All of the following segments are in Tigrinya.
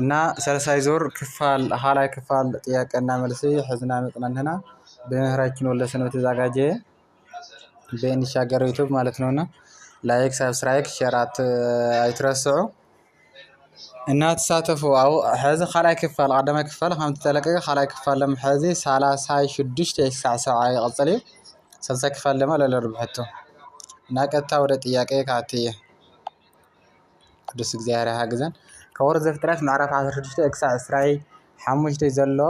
እና ሰለሳይ ዙር ክፋል ኻላይ ክፋል ጥያቄ እና መልሲ ሕዝና መፅና ኣለና ብምህራችን ወልደ ሰንበት ተዛጋጀ በንሻገር ዩቱብ ማለት ነው እና ላይክ ሳብስራይክ ሸራት ኣይትረስዑ እና ተሳተፉ ኣብ ሕዚ ኻላይ ክፋል ቐዳማይ ክፋል ከም ተለቀቀ ኻላይ ክፋል ለም ሕዚ ሳላሳይ ሽዱሽተ ክሳዕ ሰብዓ ይቕፅል እዩ ሰልሳይ ክፋል ደማ ለለርብሐቶ እና ቀጥታ ወደ ጥያቄ ክኣቲ እየ። ቅዱስ እግዚኣብሔር ይሓግዘን ካብ ኦሪት ዘፍጥረት ምዕራፍ ዓሰርተ ሽዱሽተ ክሳብ ዕስራይ ሓሙሽተ ዘሎ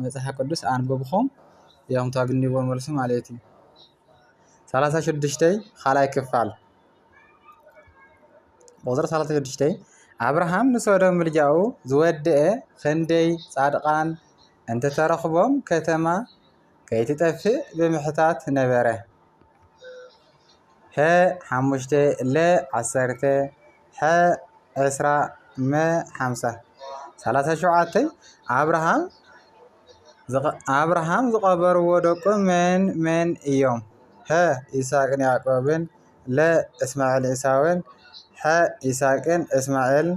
መጽሓፍ ቅዱስ ኣንብብኩም እዮም ታግንዎ መልሱ ማለት እዩ ሰላሳ ሽዱሽተይ ካልኣይ ክፋል ቁፅሪ ሰላሳ ሽዱሽተይ ኣብርሃም ንሶዶም ምልጃኡ ዝወደአ ክንደይ ጻድቃን እንተተረኽቦም ከተማ ከይትጠፍእ ብምሕታት ነበረ። ሐ ሓሙሽተ ለ ዓሰርተ ሐ ዕስራ መ ሓምሳ ሰላሳ ሸውዓተ ኣብርሃም ኣብርሃም ዝቐበርዎ ደቁ መን መን እዮም? ሐ ይስሐቅን ያዕቆብን ለ እስማኤል ኤሳውን ሐ ይስሐቅን እስማኤልን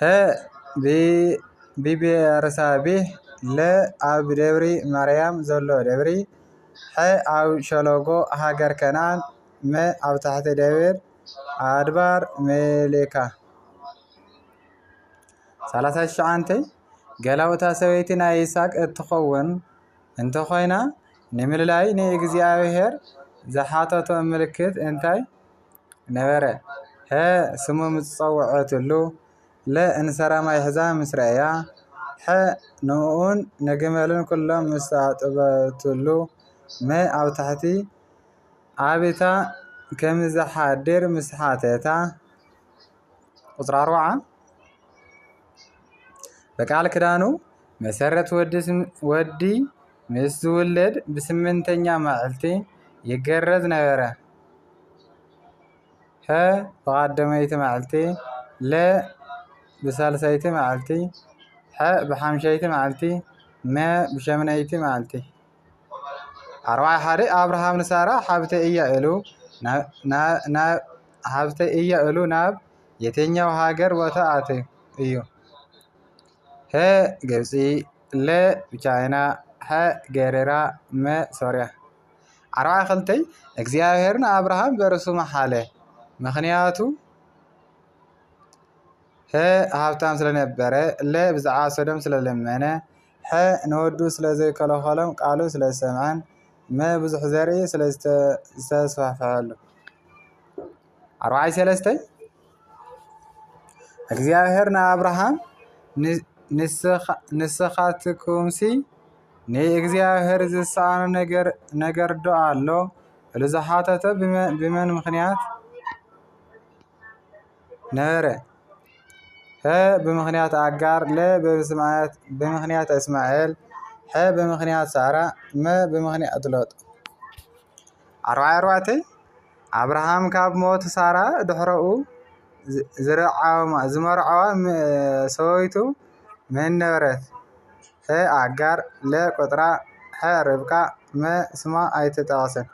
ሀ ብ ብብሄረሰብህ ለ ኣብ ደብሪ ማርያም ዘሎ ደብሪ ሐ ኣብ ሸለጎ ሃገር ከነኣን መ ኣብ ታሕቲ ደብር ኣድባር ምልካ ሰላሳ ትሽዓተ ገላውታ ሰበይቲ ናይ ይስሃቅ እትኸውን እንተኾይና ንምልላይ ንእግዚኣብሄር ዝሓተቶ ምልክት እንታይ ነበረ። ሀ ስሙ ምስ ጸውዐትሉ ለ እንሰራ ማይ ሒዛ ምስ ረኣያ ሐ ንእኡን ንግመሉን ኩሎም ምስ ኣጥበትሉ መ ኣብ ታሕቲ ኣቢታ ከምዝሓድር ምስ ሓተታ። ቁጽሪ ኣርባዓ። በቃል ክዳኑ መሠረት ወዲ ምስ ዝውለድ ብስምንተኛ መዕልቲ ይገረዝ ነበረ። ሀ ብቓደመይቲ መዓልቲ ለ ብሳልሳይቲ መዓልቲ ሐ ብሓምሻይቲ መዓልቲ መ ብሸምናይቲ መዓልቲ። ኣርባዕተ ሓደ ኣብርሃም ንሳራ ሓብተይ እያ ኢሉ ናብ ሓብተይ እያ ኢሉ ናብ የትኛው ሃገር ቦታ ኣትዩ እዩ? ሀ ግብፂ ለ ቻይና ሐ ገሪራ መ ሶርያ ዓርባዓ ክልተ እግዚኣብሔር ንኣብርሃም በርእሱ መሓለ ምኽንያቱ ሀ ሃብታም ስለነበረ ለ ብዛዕባ ሶዶም ስለለመነ ሐ ንወዱ ስለ ዘይከለኸሎም ቃሉ ስለ ዝሰምዐን መ ብዙሕ ዘርኢ ስለ ዝተስፋፍሐሉ። ኣርብዓይ ሰለስተ እግዚኣብሔር ንኣብርሃም ንስኻትኩምሲ ንእግዚኣብሔር ዝሰኣኖ ነገር ነገር ዶ ኣሎ? ኢሉ ዝሓተቶ ብመን ምኽንያት? ነበረ። ሐ ብምኽንያት ኣጋር ለ ብምኽንያት እስማኤል ሐ ብምኽንያት ሳራ መ ብምኽንያት ሎጥ። ዓርባዓይ ኣርባዕተይ ኣብርሃም ካብ ሞት ሳራ ድሕረኡ ዝመርዓዋ ሰበይቱ መን ነበረት? ሐ ኣጋር ለ ቆጽራ ሐ ርብቃ መ ስማ ኣይተጠቐሰን።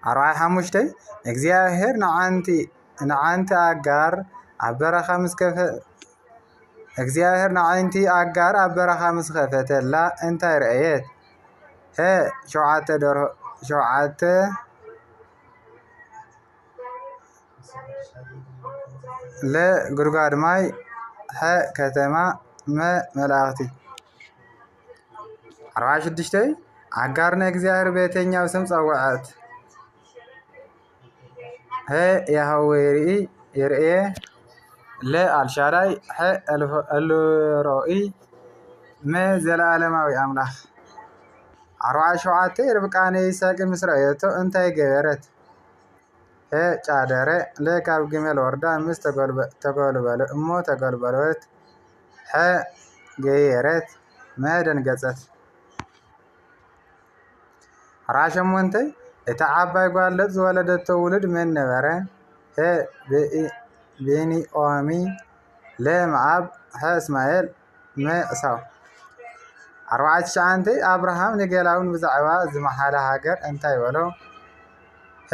ኣርባዓይ ሓሙሽተይ እግዚኣብሔር ንዓንቲ ንዓንቲ ኣጋር ኣብ በረኻ ምስ ከፈ እግዚኣብሔር ንዓንቲ ኣጋር ኣብ በረኻ ምስ ከፈተላ እንታይ ረኣየት? ሀ ሸውዓተ ደርሆ ሸውዓተ ለ ጉድጓድ ማይ ሐ ከተማ መ መላእኽቲ ኣርባዕን ሽዱሽተን ኣጋር ንእግዚኣብሔር በየትኛው ስም ጸውዐት? ሀ ያህዌ ይርኢ ይርኤ ለ አልሻዳይ ሐ ኤልሮኢ መ ዘለዓለማዊ ኣምላኽ ዓርባዓ ሸውዓተ ርብቃ ንይስሐቅ ምስ ረኣየቶ እንታይ ገበረት? ሀ ጫደረ ለ ካብ ግመል ወርዳ ምስ ተጎልበለ እሞ ተጎልበበት ሐ ገየረት መ ደንገጸት። ራ ሸሞንተ እታ ዓባይ ጓል ሎጥ ዝወለደቶ ውሉድ መን ነበረ? ፐ ብንኦሚ ለ መኣብ ሐ እስማኤል መ ዕሳው። ዓርባዓት ትሽዓንተ ኣብርሃም ንገላውን ብዛዕባ ዝመሓለ ሃገር እንታይ በሎ? ፐ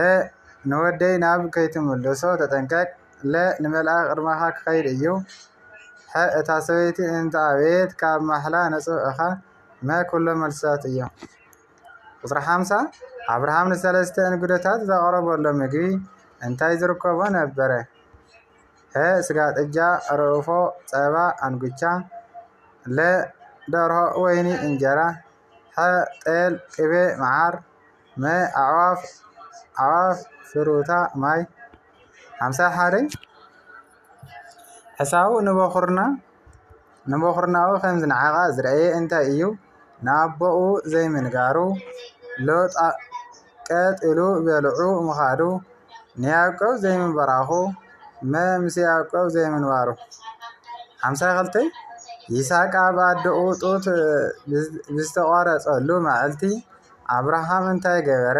ንወደይ ናብ ከይትምልሶ ተጠንቀቅ። ለ ንመልኣክ ቅድማካ ክከይድ እዩ ሐ እታ ሰበይቲ እንተ ኣበየት ካብ ማሕላ ንጹህ እኻ መ ኩሎም መልስታት እዮም ቁጽሪ ሓምሳ ኣብርሃም ንሰለስተ እንግዶታት ዘቅረበሎም ምግቢ እንታይ ዝርከቦ ነበረ ሀ ስጋ ጥጃ ርኡፎ ጸባ ኣንጉቻ ለ ደርሆ ወይኒ እንጀራ ሐ ጤል ቅቤ መዓር መ ኣዕዋፍ ኣዕዋፍ ፍሩታ ማይ ሓምሳ ሓደ ሕሳቡ ንበኹርና ንበኹርናኡ ከም ዝነዓቐ ዝረኣየ እንታይ እዩ? ንኣቦኡ ዘይምንጋሩ፣ ሎጥ ቀጥ ኢሉ በሊዑ ምኻዱ፣ ንያዕቆብ ዘይምብራኹ፣ እመ ምስ ያዕቆብ ዘይምንባሩ። ሓምሳ ክልተ ይስሐቅ ኣብ ኣደኡ ጡት ብዝተቖረፀሉ መዓልቲ ኣብርሃም እንታይ ገበረ?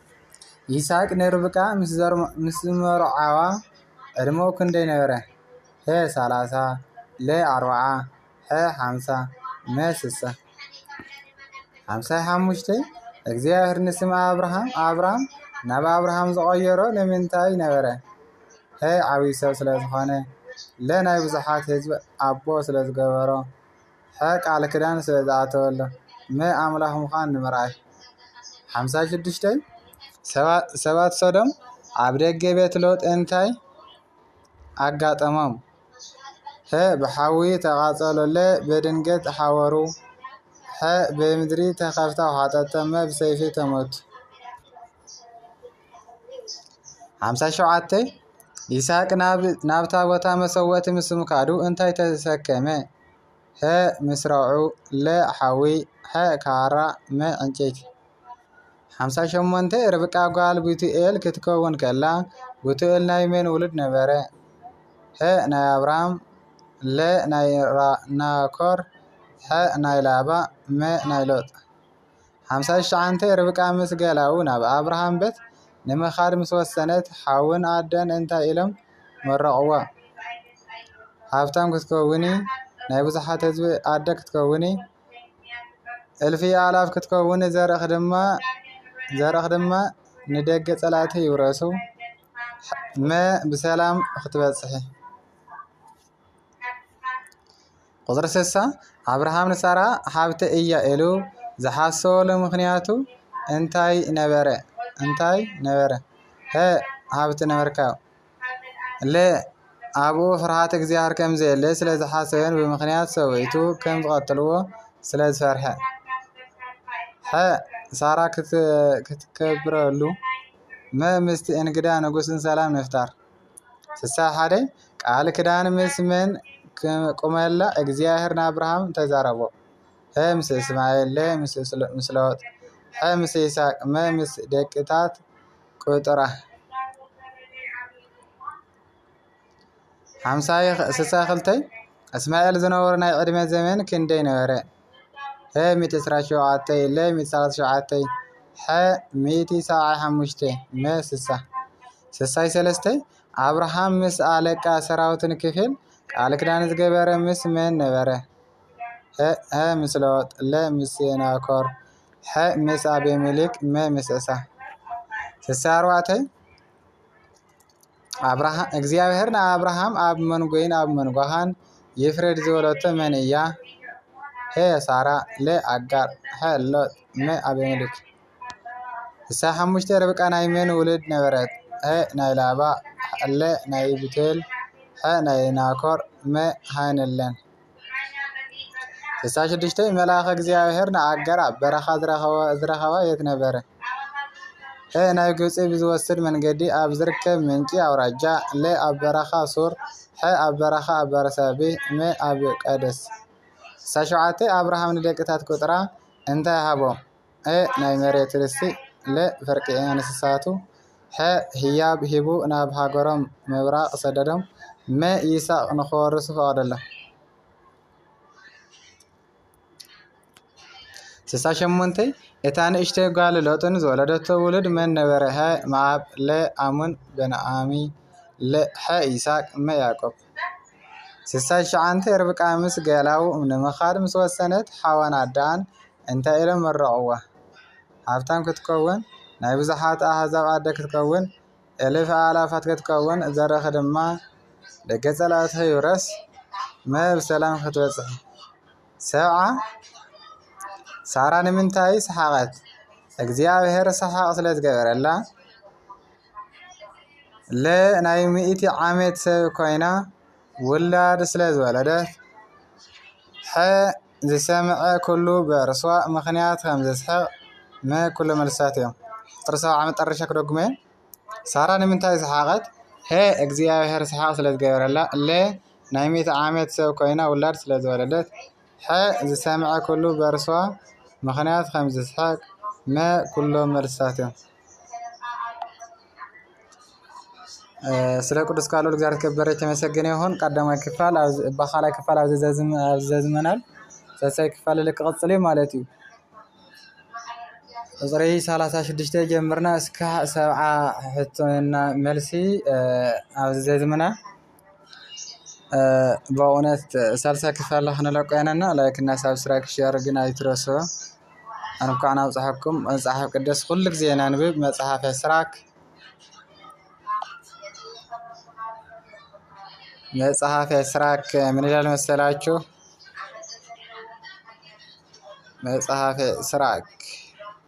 ይስሐቅ ንርብቃ ምስ ዝመርዓዋ ዕድመኡ ክንደይ ነበረ? ሀ፣ ሰላሳ፣ ለ፣ ኣርብዓ፣ ሐ፣ ሓምሳ፣ መ፣ ስሳ። ሓምሳይ ሓሙሽተይ እግዚኣብሔር ንስም ኣብርሃም ኣብራም ናብ ኣብርሃም ዝቐየሮ ንምንታይ ነበረ? ሀ፣ ዓብዪ ሰብ ስለ ዝኾነ፣ ለ፣ ናይ ብዙሓት ህዝቢ ኣቦ ስለ ዝገበሮ፣ ሐ ቃል ክዳን ስለ ዝኣተወሎ መ ኣምላኽ ምዃን ንምርኣይ ሓምሳ ሽዱሽተይ ሰባት ሶዶም ኣብ ደገ ቤት ሎጥ እንታይ ኣጋጠሞም? ሐ ብሓዊ ተቓጸሎ ለ ብድንገት ሓወሩ ሐ ብምድሪ ተኸፍታ ውሓጠቶ መ ብሰይፊ ተመቱ ሓምሳ ሸውዓተይ ይስሐቅ ናብታ ቦታ መሰወእቲ ምስ ምካዱ እንታይ ተሰከመ? ሐ ምስራዑ ለ ሓዊ ሐ ካራ መ ዕንጨይቲ። ሓምሳ ሸሞንተ ርብቃ ጓል ቡቱኤል ክትከውን ከላ ቡቱኤል ናይ መን ውሉድ ነበረ? ሐ ናይ ኣብርሃም ለ ናይ ናኮር ሐ ናይ ላባ መ ናይ ሎጥ። ሓምሳ ትሽዓተ ርብቃ ምስ ገላዉ ናብ ኣብርሃም በት ንምኻድ ምስ ወሰነት ሓውን ኣደን እንታይ ኢሎም መረቕዋ? ሃብታም ክትከውኒ፣ ናይ ብዙሓት ህዝቢ ኣደ ክትከውኒ፣ እልፊ ኣእላፍ ክትከውኒ ዘርእኽ ድማ ዘርእኽ ድማ ንደገ ጸላእቲ ይውረሱ መ ብሰላም ክትበጽሒ። ቁጽሪ ስሳ ኣብርሃም ንሳራ ሓብተይ እያ ኢሉ ዝሓሰበሉ ምኽንያቱ እንታይ ነበረ? እንታይ ነበረ? ሀ ሃብቲ ንምርካብ ለ ኣብኡ ፍርሃት እግዚኣብሔር ከም ዘየለ ስለ ዝሓሰበን ብምኽንያት ሰበይቱ ከም ዝቐትልዎ ስለ ዝፈርሐ ሐ ሳራ ክትከብረሉ መ ምስቲ እንግዳ ንጉስን ሰላም ንፍጣር ስሳ ሓደ ቃል ክዳን ምስ መን ክመላ እግዚኣብሔር ንኣብርሃም ተዛረቦ ሀ ምስ እስማኤል ለ ምስ ሎጥ ሐ ምስ ይስሐቅ መ ምስ ደቅታት ቁጥራ ሓምሳ ስሳ ክልተ እስማኤል ዝነበሩ ናይ ዕድመ ዘመን ክንደይ ነበረ? ሚእቲ ዕስራን ሸውዓተን ለ ሚእቲ ሰላሳን ሸውዓተን ሐ ሚእቲ ሰብዓን ሓሙሽተን መ ስሳ ስሳይ ሰለስተ ኣብርሃም ምስ ኣለቃ ሰራዊትን ክፍል ቃል ክዳን ዝገበረ ምስ መን ነበረ? ሀ ምስ ሎጥ ለ ምስ ሴናኮር ሐ ምስ ኣቤሜሌክ መ ምስ ዕሳ ስሳ ኣርባዕተ ኣብርሃ እግዚኣብሔር ንኣብርሃም ኣብ መንጐይን ኣብ መንጓኻን ይፍረድ ዝበለቶ መን እያ? ሀ ሳራ ለ ኣጋር ሐ ሎጥ መ ኣቤሜሌክ እሳ ሓሙሽተ ርብቃ ናይ መን ውልድ ነበረት? ሀ ናይ ላባ ለ ናይ ብቱኤል ሐ ናይ ናኮር መ ሃ ንለን ስሳ ሽዱሽተ መልኣከ እግዚኣብሔር ንኣጋር ኣብ በረኻ ዝረኸባ የት ነበረ? ሐ ናብ ግብፂ ብዝወስድ መንገዲ ኣብ ዝርከብ ምንጪ ኣውራጃ ለ ኣብ በረኻ ሱር ሐ ኣብ በረኻ ኣብ በርሳቤ መ ኣብ ቃዴስ ስሳ ሸውዓተ ኣብርሃም ንደቅታቱ ቁፅራ እንታይ ሃቦም? a ናይ መሬት ርስቲ ለ ፍርቂ እንስሳቱ ሐ ህያብ ሂቡ ናብ ሃገሮም ምብራቕ ሰደዶም መ ይስሐቅ ንክወርሱ ፈቐደሎም። ስሳ ሸሞንተ እታ ንእሽተይ ጓል ሎጥን ዝወለደቶ ውሉድ መን ነበረ? ሐ መኣብ ለ ኣሙን በንኣሚ ሐ ይስሐቅ መ ያዕቆብ ስሳይ ትሽዓንተ ርብቃ ምስ ገላዉ ንምኻድ ምስ ወሰነት ሓዋን ኣደኣን እንታይ ኢሎም መረቕዋ? ሃብታም ክትከውን፣ ናይ ብዙሓት ኣህዛብ ኣደ ክትከውን፣ እልፍ ኣእላፋት ክትከውን፣ ዘርእኺ ድማ ደገ ጸላእትኺ ይውረስ፣ መ ብሰላም ክትበጽሒ። ሰብዓ፣ ሳራ ንምንታይ ሰሓቐት? እግዚኣብሄር ሰሓቕ ስለ ዝገበረላ። ለ ናይ ሚእቲ ዓመት ሰብ ኮይና ውላድ ስለ ዝወለደት ሐ ዝሰመዐ ኩሉ ብዕርሷ ምክንያት ከም ዝስሕቅ መ ኩሎ መልስታት እዮም። ጥሪ ሰብዓ መጠረሻ ክደግሞ እየ ሳራ ንምንታይ ሰሓቀት ሐ እግዚኣብሔር ሰሓቅ ስለ ዝገበረላ ለ ናይ ሚእቲ ዓመት ሰብ ኮይና ውላድ ስለ ዝወለደት ሐ ዝሰመዐ ኩሉ ብዕርሷ ምክንያት ከም ዝስሕቅ መ ኩሎ መልስታት እዮም። ስለ ቅዱስ ቃሉ እግዚኣብሔር የተከበረ የተመሰገነ ይኩን ቀዳማይ ክፋል እባ ካልኣይ ክፋል ኣብዚ ዘዝመናል ሳልሳይ ክፋል እል ክቅፅል እዩ ማለት እዩ። ቁፅሪ ሰላሳ ሽዱሽተ ጀሚርና እስካዕ ሰብዓ ሕቶና መልሲ ኣብዚ ዘዝምና በእውነት ሳልሳ ክፋል ንለቁ ኢና እና ላይክ እና ሳብስክራይብ ሼር ግን ኣይትረሱ። እንኳን ኣብፀሐኩም መፅሓፍ ቅዱስ ኩሉ ጊዜ ነንብብ መፅሓፈ ስራክ። መፅሐፈ ስራክ ምን ይላል መሰላችሁ? መፅሐፈ ስራክ